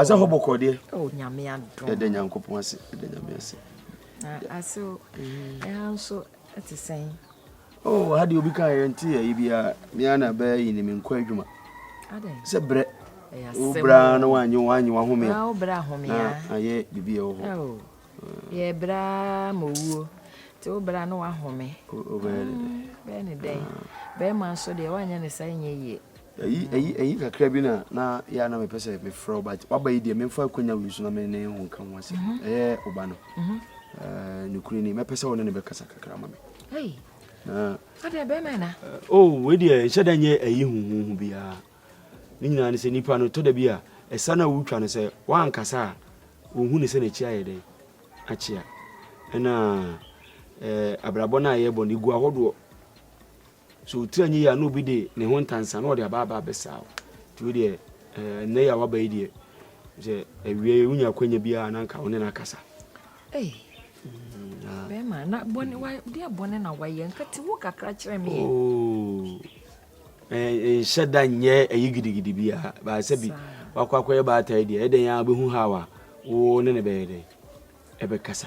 asɛ hɔ bɔkɔ deɛ oh, yɛda nyankopɔn ase yɛda nyame ase asew ɛha nso ɛte sɛn oh ha deɛ obi ka yɛ nte yɛ biara mea na bɛyɛ yi ne me nkɔ adwuma sɛ berɛ wobra na woanyɛ woanyɛ wahome a na ayɛ biribi ɛwɔ hɔ oh, yɛ bra ma owuo nti wobra na wahome bɛyɛ ne dɛn bɛrima nso deɛ woanyɛ ne saa nyɛ yie Eyi eyi eyi kakra bi na na yɛ a na mepɛ sɛ mefrɛ wo but waba yi deɛ memfa akwanya wei so na me ne ho nka ho asɛm mm-hmm. ɛyɛ wo ba no mm-hmm. eh, nokorɛ ni mɛpɛ sɛ wo ne ne bɛkasa kakra ma me na ɔdɛ bɛrima na eh, o oh, wei deɛ nhyɛ da nyɛ ayi huhuhu biara ne nyinaa ne sɛ nipa no tɔ da bi a ɛsa no a wotwa no sɛ woankasa a wɔhu ne sɛ n'akyi ayɛ dɛn akyea ɛna eh, abrabɔ no a yɛbɔ no ɛgu ahodoɔ Sɛ wo tiri anyɛ yie a na obi de ne ho ntansa na ɔde aba aba abɛsaa wo. Nti wo deɛ eh, nnɛ yi a waba yi deɛ sɛ awie wonya akwanya biara na nka wo ne no akasa. Hey. Mm, bɛrima na bɔne mm. wa deɛ bɔne na wayɛ nka ti wo kakra kyerɛ me. Oh. Eh, nhyɛ da nyɛ ɛyi gidigidi biara baasɛ bi wakɔ akɔyɛ baatae deɛ ɛdɛn a wobɛhu haw a wo ne ne bɛyɛ dɛn ɛbɛkasa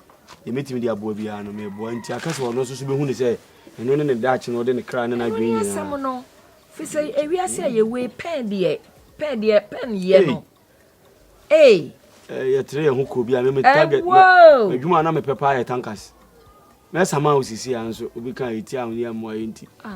deɛ mɛtumi de aboa biara no meboa nti aka sɛ ɔno nso so bɛhu ne sɛ ɛno ne ne daakye no ɔde ne kra ne n'adwene nyinaa asɛm no fi sɛ ewiase a yɛwei pɛn deɛ pɛn deɛ pɛn yɛ no ee yɛtere yɛn ho kuro bi a meme target adwuma a na mepɛ paa yɛ tankas mɛsama wo sisi a nso obi ka ɛti a woyɛ mmoa yɛ nti ah,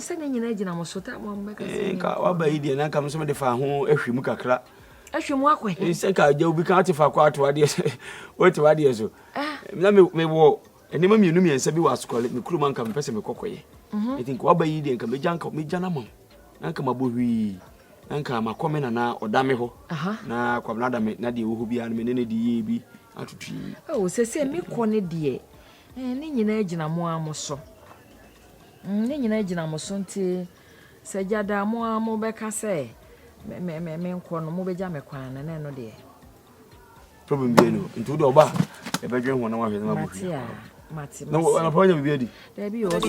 sɛ ne nyina gyina mo so ta mo mbɛka sɛ eh, nka waba yi deɛ na nka mesɛ mede fa ho ahwe mu kakra ahwe mu akɔ he sɛ ka agya obi ka wote fa kɔ ato adeɛ sɛ wote wadeɛ so ah. na mewɔ nneɛma mmienu mmiɛnsa bi wɔ asokɔle me kurom anka mepɛ sɛ mekɔkɔyɛ mhm. ɛti nka waba yi deɛ nka mɛgya nka mɛgya no ma wo na nka mabɔ hwii na nka makɔ me nana ɔda me hɔ na kwabena da me na deɛ wɔ hɔ biara no me ne no de yie bi atotui sɛ sɛ mekɔ no deɛ Ɛɛ, ne nyinaa gyina mo ara mo so. Mm, ne nyinaa gyina mo so. Nti sɛ gya da a, mo ara mobɛka sɛ me, me, me, menkɔ no, mobɛgya me kwan no, na ɛno deɛ. Problem bi ɛnu. Nti wode ɔba a, ɛbɛdwen ho na wahwɛ sɛ mabɔ hwia. Mate a, mate, mate. Na wɔn apɔn nyɛ biribi adi. Daabi o, ɔsɛ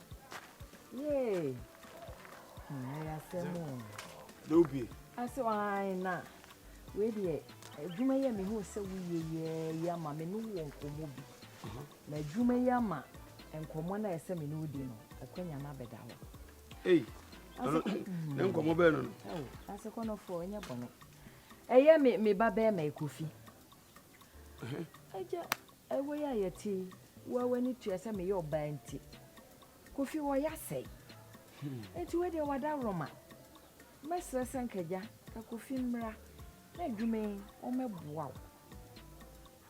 Yay! Hmm, ɛyɛ asɛm o. Dɛ wobie. Ase ɔhan na wei deɛ adwuma yi a mehu sɛ woyɛ yɛ yi ama me ne wɔ nkɔmmɔ bi. Mhm. Na adwuma yi ama nkɔmmɔ no a ɛsɛ me ne wodi no akwanya no abɛda hɔ. Ei, mhm. ne nkɔmmɔ bɛɛ no no. Ase kɔnɔfoɔ ɛnyɛ bɔne. Ɛyɛ me me ba bɛɛ ma ɛkɔfi. Agya, Ɛwɔ yi a yɛte yi, wo a w'ani tua sɛ meyɛ ɔbaa nti, Kofi wɔ ya sɛe. Enti wei deɛ w'adaworoma. Mɛsrɛ sɛ nka agya, ka Kofi mmra na adwuma yi wɔmmɛboa wo.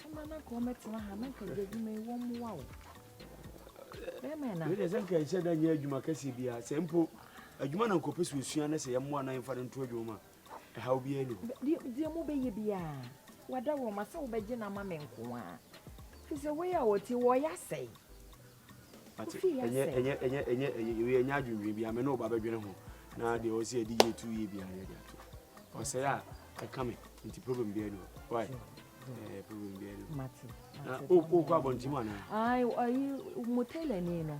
Mma na nka wɔmmɛtena ha na nka agya adwuma yi wɔmmoa wo. Bɛrima na. Wei deɛ sɛ nka ɛsɛ da nyɛ adwuma kɛseɛ biara, sɛ mpo adwuma na nka ɔpɛ sɛ ɔsua na sɛ yɛmmoa na yɛmfa no nto adwuma mu a, Ɛhaw biara nni hɔ. Deɛ, deɛ mobɛyɛ biara, wada wo ma sɛ wobɛgye no ama me nko ara. Ɛfiri sɛ wei a wɔte, wɔyɛ asɛe. Wate, Wofie ɛnyɛ, asɛe. ɛnyɛ, ɛnyɛ, ɛnyɛ, ɛyɛ, wei ɛnyɛ adwendwen biara, me ne wo ba bɛdwene ho, na deɛ ɔwɔ sɛ yɛde yie tu yie biara no yɛde ato. Ɔsɛe a, ɛka me, nti problem biara nni hɔ. Why? Ɛɛ, problem biara nni hɔ. Mate, Na mate. o- wokɔ abɔnten mu anaa? Ai, ayi, mo tailorni no,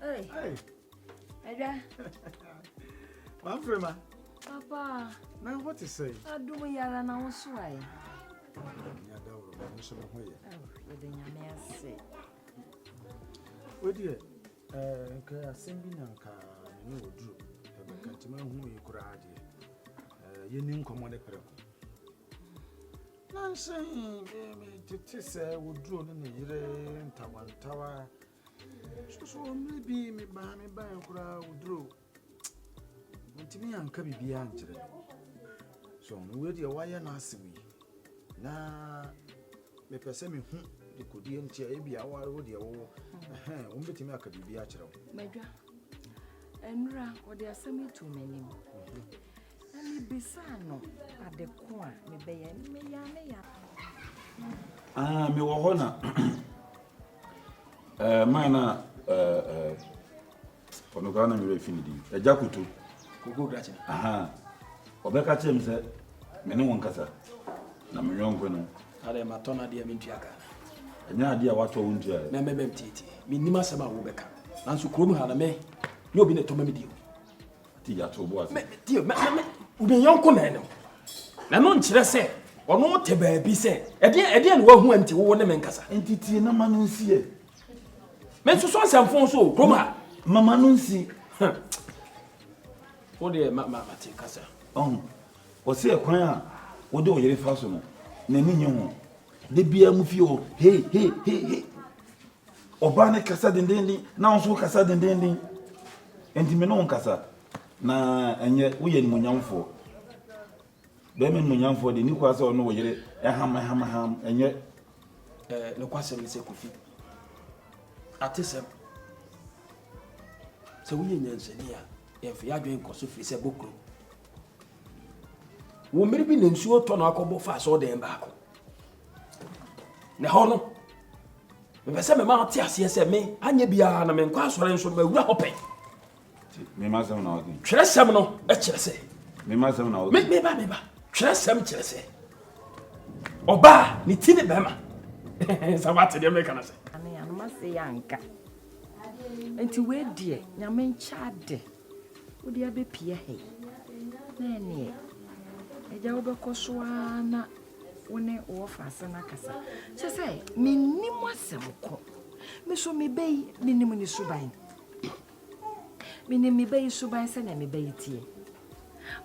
Hey. Hey. Ada. Ma frɛ ma. Papa. Na what is say? Adum yara na wo so ai. Ya da woro ma nso me ho ye. Ye de nyame ase. Wodi e eh nka asem bi na nka me ne oduru. Ebe ka tima hu yi kura ade. Eh ye ni nkomo ne preko. Nnansa yi metete sɛ woduro ne ne yere ntawantawa. Soso mmerɛ bi mebaa me baeɛ koraa woduro ntumi anka biribiara nkyerɛ. So wei deɛ wayɛ n'asɛm yi na mepɛ sɛ mehu dekodeɛ nti a ebi aware wo deɛ wowɔ ɛhɛn wɔn bɛtumi aka biribi akyerɛ wo. Madwa nnura ɔde asɛm yi to m'anim. Mhm. Na mibisaa no ade ko a mebɛyɛ, na meyaa ne yare. Ah, mewɔ hɔ na eh, man na eh, ɔno koraa na mewura fi ne din agya koto kogo grakye aha ɔbɛka kyerɛ me sɛ me ne wo nkasa na me yɔnko no adɛ matɔ no adeɛ mentua ka ɛnyɛ adeɛ a watɔ wo ntua na mɛbɛm tietie mennim asɛm a wobɛka nanso kurom ha na me ne obi ne tɔma me deɛ Ati ya to bo ase. Tie me me me yɔnko na ɛno. Na no nkyerɛ sɛ ɔno te baabi sɛ ɛdeɛ ɛdeɛ na wahu nti wo ne me nkasa. Nti tie na ma no nsi ɛ. Me nso so nsɛmfo so kurom ha. Mama no nsi. Wo deɛ ma ma te kasa. Ɔn. Ɔsi ɛkwan a wode ɔyere fa so no n'ani nye ho. Da biara mu fie hɔ hei hei hei hei. Ɔbaa no kasa dendeenden, na wo nso wokasa dendeenden. Enti me ne wo nkasa, na ɛnyɛ woyɛ animuonyamfoɔ. Bɛrima animuonyamfoɔ deɛ ne kura sɛ ɔne wo yere ɛham ɛham ɛham ɛnyɛ. Ɛɛ nokwasɛm ne sɛ Kofi, atesɛm sɛ woyɛ nyansani a yɛmfa yɛ adwene nkɔ so firi sɛ bokuro wɔ mmere bi na nsuo tɔ no akɔbɔ fa asɔɔdan baako Na ɛhɔ no, mepɛ sɛ mema ɔte aseɛ sɛ me anyɛ biara na menkɔ asɔre nso mawura hɔ pɛ. Mema sɛm na ɔde. Twerɛ sɛm no kyerɛ sɛ. Mema sɛm na ɔde. Meba meba. Twerɛ sɛm kyerɛ sɛ. Ɔbaa ne ti ne bɛrima. Sɛ wate deɛ meka no sɛ. Ane anoma sɛ yɛ anka. Nti wei deɛ nyame nkyɛ ade. Wode abɛpia hei. Na ɛneɛ. Agya wobɛkɔ so ara na. Wo ne wɔfa asɛm akasa. Kyerɛ sɛ mennim asɛm ko. Me nso me ba yi, menim ne suban. Menim me ba yi suban sɛnea me ba yi teɛ.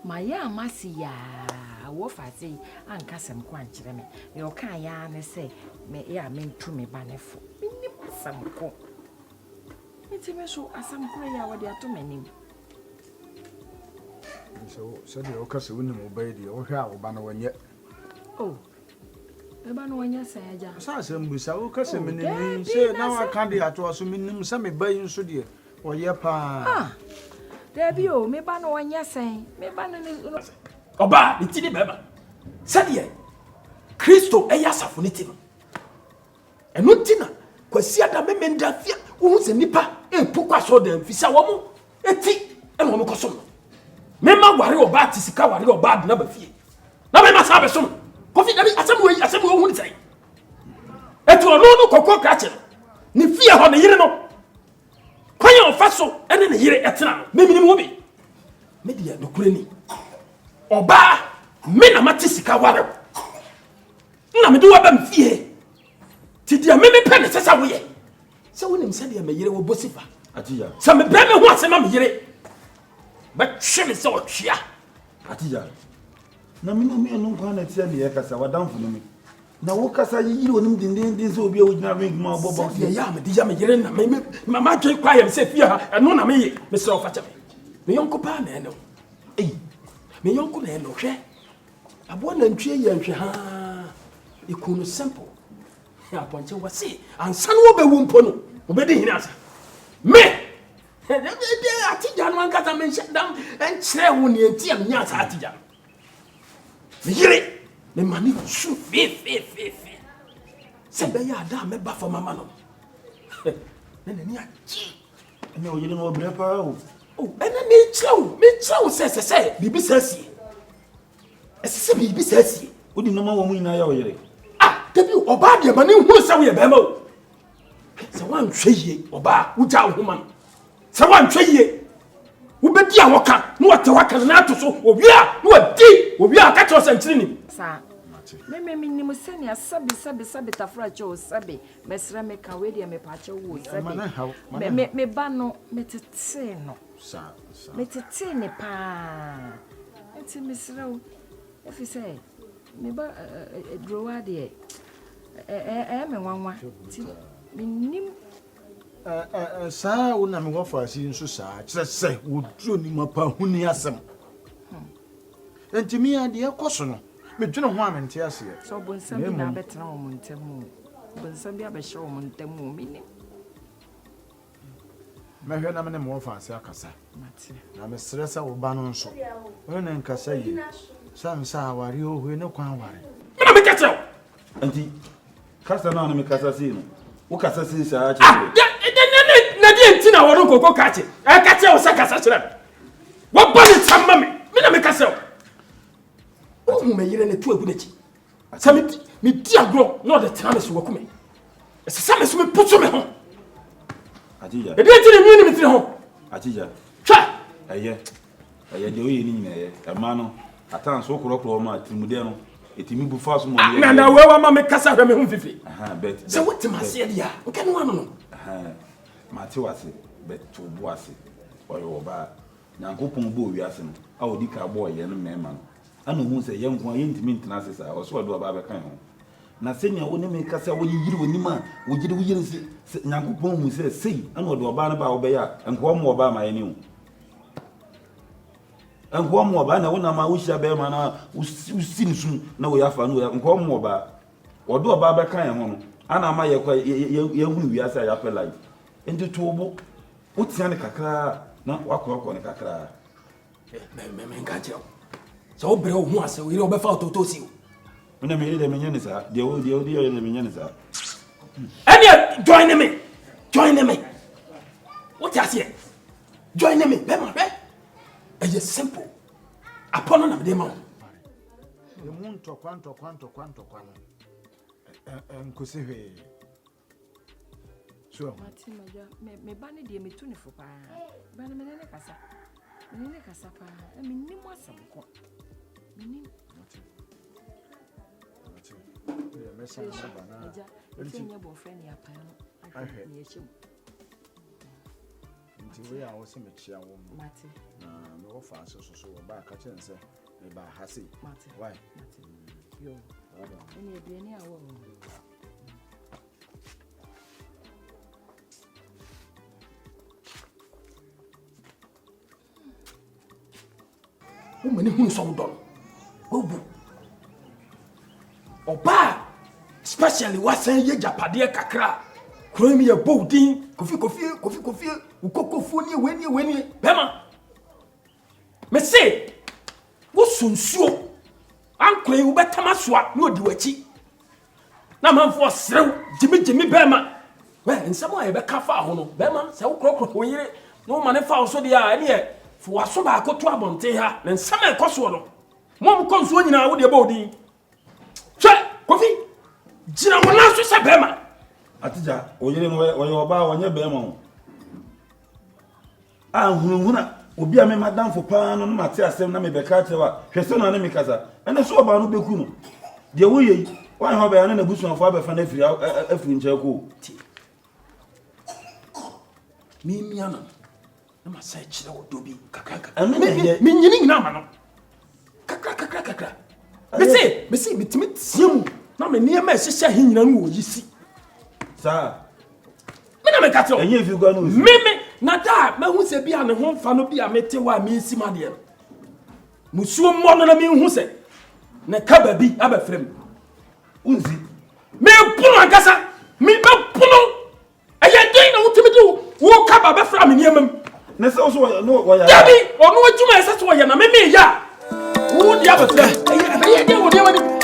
Mayɛ a masi yaa wɔfa ase yi anka asɛm ko ankyerɛ me. Deɛ ɔkaa yɛ ara ne sɛ me yɛ a mentu me ba no fo. Mennim asɛm ko. Nti me nso asɛm korɔ yi a wɔde ato m'anim. sɛdeɛ woka sɛ wonim wo ba yi deɛ wohwɛ a wo ba no wɔnyɛ oh, ɛba no wɔnyɛ sɛ agya sɛ asɛm bi sa woka sɛ oh, menim ne sɛ na waka de atoa so menim sɛ me ba yi nso deɛ wɔyɛ paa ah, daabi o me ba no wɔnyɛ sɛn me ba no ne ɔbaa ne ti ne bɛrima sɛdeɛ kristo ɛyɛ asafo ne ti no Ɛno nti na Kwasiada Memenda fi a wohu sɛ nnipa mpo kɔ asɔrdan fi sɛ wɔn ti na wɔn kɔsom no. Mema ware ɔbaa te sika ware ɔbaa de naba fie. Na mema saa bɛsom. Kofi dabi asɛm wei asɛm wei ohun sɛn. Etu ɔno no kɔkɔ krakye no. Ne fie hɔ ne yere no. Kwan a ɔfa so ne ne yere ɛtena no ne minimu bi. Me deɛ nokure ni. Ɔbaa me na mate sika ware. Nna mede waba me fie. Ti deɛ me mepɛ ne sɛ sɛ woyɛ. Sɛ wonim sɛdeɛ me yere wɔ bosifa. Atiya. Sɛ mebrɛ me ho ase ma me yere. Bɛtwe me sɛ ɔtwea. Atiya. Na me nua no nkwa na ɛteɛ deɛ ɛkasa wadamfo no mi. Na wo kasa yi yiri onim dendenden sɛ obi a wogyina ring mu a ɔbɔ bɔks. Sɛdeɛ yɛ a mede yɛ me yere na me me ma adwene kɔ ayɛ me sɛ fie ha ɛno na meyɛ mesrɛ wo fakyɛ me. Me yɔnko paa na ɛne wo. Ei. Me yɔnko na ɛne wo hwɛ. Aboa nantwie yɛ nhwɛ haa ekun no simple hɛ apɔnkye wɔse ansa no wɔbɛwu mpo no wɔbɛdi hene asa me ɛdɛ atigya no ankasa menhyɛ dam nkyerɛ wo neɛ nti a menya saa atigya no meyere mema ne su fefefefe sɛ bɛyɛ ada a mɛba fam ama no na n'ani agye Ɛnna ɔyere no ɔbrɛ paa o. O ɛnna mekyerɛ wo mekyerɛ wo sɛ ɛsɛ sɛ biribi saa sie ɛsɛ sɛ biribi saa sie. o de nneɛma wɔn mu nyinaa yɛ ɔyere. ah dabi o ɔbaa deɛ ma ne hu sɛ woyɛ bɛrima o sɛ woanhwɛ yie ɔbaa wogya wo ho ma no sɛ woanhwɛ yie wobɛdi a wɔka na wɔte hɔ aka no na ato so owie a na wɔdi owie a ɔka kyerɛ sɛ nkyere nim. saa meme menim sɛnea sɛbe sɛbe sɛbe tafra kyɛ o sɛbe Mɛsrɛ me ka wei deɛ mepakyɛ wo sɛde me me ba no me tetee no me tetee ne paa nti mesrɛ wo efi sɛ me ba durowa deɛ ɛɛ me nwanwa nti menim saa wo na mewɔ faase nso saa kyerɛ sɛ wɔduro ni mapa huni asɛm Enti me ara, deɛ ɛrekɔ so no, medwene ho a mente aseɛ. Sɛ ɔbonsam bi na abɛtena wɔn ntam oo, ɔbonsam bi abɛhyɛ wɔn ntam oo, mennim. Mɛhwɛ na me ne mo afa ase akasa. Mate. Na mesrɛ sɛ wo ba no nso, wo ne no nkasa yie, sɛ nsa awareɛ oo, hwei ne kwan aware. Mena meka kyerɛ wo? Nti kasa no a na mekasa sei no wokasa sei saa kyerɛ me. Ah, na deɛ nti na wɔde nkoko ka kye ɛka kyerɛ wo sɛ kasa kyerɛ me wɔbɔ ne nsɛm ma me me na meka sɛ wo wohu me yere ne to agu n'akyi sɛ medi agorɔ na ɔde tena me so waku me ɛsɛ sɛ me so meposo me ho ɛdeɛ nti ne nwii ne metiri ho hwɛ ɛyɛ Ɛyɛ deɛ woyɛ no nyina yɛ. Ɛma no at times wo korɔkorɔ wɔn a atirimudeɛ no ɛtumi bu fa so ma wɔn yɛ. Na na wei wama me kasa hwɛ me ho mfifi. Sɛ wote m'aseɛ deɛ a nka ne wano no. Mate wase but to bo ase ɔyɛ ɔbaa. Nyankopɔn bɔɔ wiase no a ɔdi ka bɔɔ yɛn mmarima no ɛna ɔhuu sɛ yɛn nko ara yɛntumi ntena ase saa ɔsɛ ɔde ɔbaa bɛka yɛn ho. Na sɛnea wo ne me kasa wo yeyere w'anim a wogyede wo yere sɛ Nyankopɔn hu sɛ sei ɛna ɔde ɔbaa no baa wobɛyɛ a nka ɔmmoa ɔbaa ma yɛne wo. Nkoa mu ɔbaa na wonam a wohyia bɛrima no a wosi no sum na wei afa no wei afa nkoa mu ɔbaa wɔde ɔbaa bɛka yɛn ho no ana ama yɛkɔ yɛhunu wiase a yɛapɛ life nti to wo bo wotea no kakraa na woakorɔkorɔ no kakraa menka kyerɛ wo sɛ wobrɛ wo ho asɛ wo yere wɔbɛfa wototɔ si o Me na meyere deɛ menyɛ ne saa. Deɛ wo deɛ wo deɛ deɛ menyɛ ne saa. Ɛnneɛ join ne me join ne me wote aseɛ join ne me bɛma bɛ ɛyɛ simple apɔ no na mede ma wo. Emu ntɔkwa ntɔkwa ntɔkwa ntɔkwa no nkosi hwee. So. Mate m'adwa me me ba no deɛ metu ne fo paa. Ba no mene ne kasa. Mene ne kasa paa. Na menim asɛm ko. Menim. Mate. Mate. Deɛ mɛsan na ba na. Agya, ɛsɛ nyɛ bɔfrɛ ne apan no. Ahwɛ ne ɛhyɛ mu. Nti wei a wose mekyea wo no, mate, na mewɔ faase so so wɔbaa ka kyerɛ sɛ mebaa ha sei. Mate, why? Mate, yo, ɛne aduane a wɔwɔ no. Wo ma ne hunu sɛ wodɔ no. Wawu. Ɔbaa especially wasan yɛ japadeɛ kakra a kuro mu yɛ bɔ wo din kofi kofie kofi kofie wo kokofuo nie wei nie wei nie bɛma me se woso nsuo ankorɛ yi wobɛtam asoa na ɔdi w'akyi na amanfoɔ serew gyimigyimi bɛrima wɛ nsɛm a yɛbɛka fa ho no bɛrima sɛ wokorɔkorɔ wo yere na woma ne fa wo so deɛ a ɛneɛ fo waso baako to abɔnten ha na nsɛm a ɛkɔ soɔ no mo a mokɔ nsuo nyinaa wodeɛ bɔ odin hwɛ kofi gyina wo nan so sɛ bɛrima atigya wo yere no wɔyɛ ɔbaa wɔnyɛ bɛrima ho A Hunahuna obi a me madamfo paa no na mate asɛm na mebɛka akyerɛ wo a, hwɛ sɛ ɔne me kasa. Ɛnna sɛ ɔbaa no bɛku no. Deɛ woyɛ yi, woanyɛ ɔbɛn a na n'abusuafoɔ abɛfa no afiri afiri nkyɛn kɔ o. Tie. Memia no no, na masa akyerɛ wo dɔ bi nkakrankakra. Ɛno na ɛyɛ. Menyini nyina ama no. kakra kakra kakra mese mese metumi teɛ mu na me nneɛma ɛhyehyɛ he nyina no wɔyi si saa me na meka kyerɛ ɛnyɛ fi kwa no si meme na da a mahu sɛ bi a ne ho mfa no bi a mete hɔ a mensi ma deɛ no musuo mmɔ no na menhu sɛ ne ka baabi abɛfrɛ mu wonsi meboro ankasa mebɛpono Ɛyɛ dɛn na wotumi de wo kaba bɛfra me nneɛma mu? Ne sɛ ɔso wɔyɛ no wɔyɛ. Dabi ɔno adwuma ɛsɛ sɛ ɔyɛ na meme yɛ a. Wo di abɛfra. Ɛyɛ ɛbɛyɛ dɛn wɔ nneɛma no.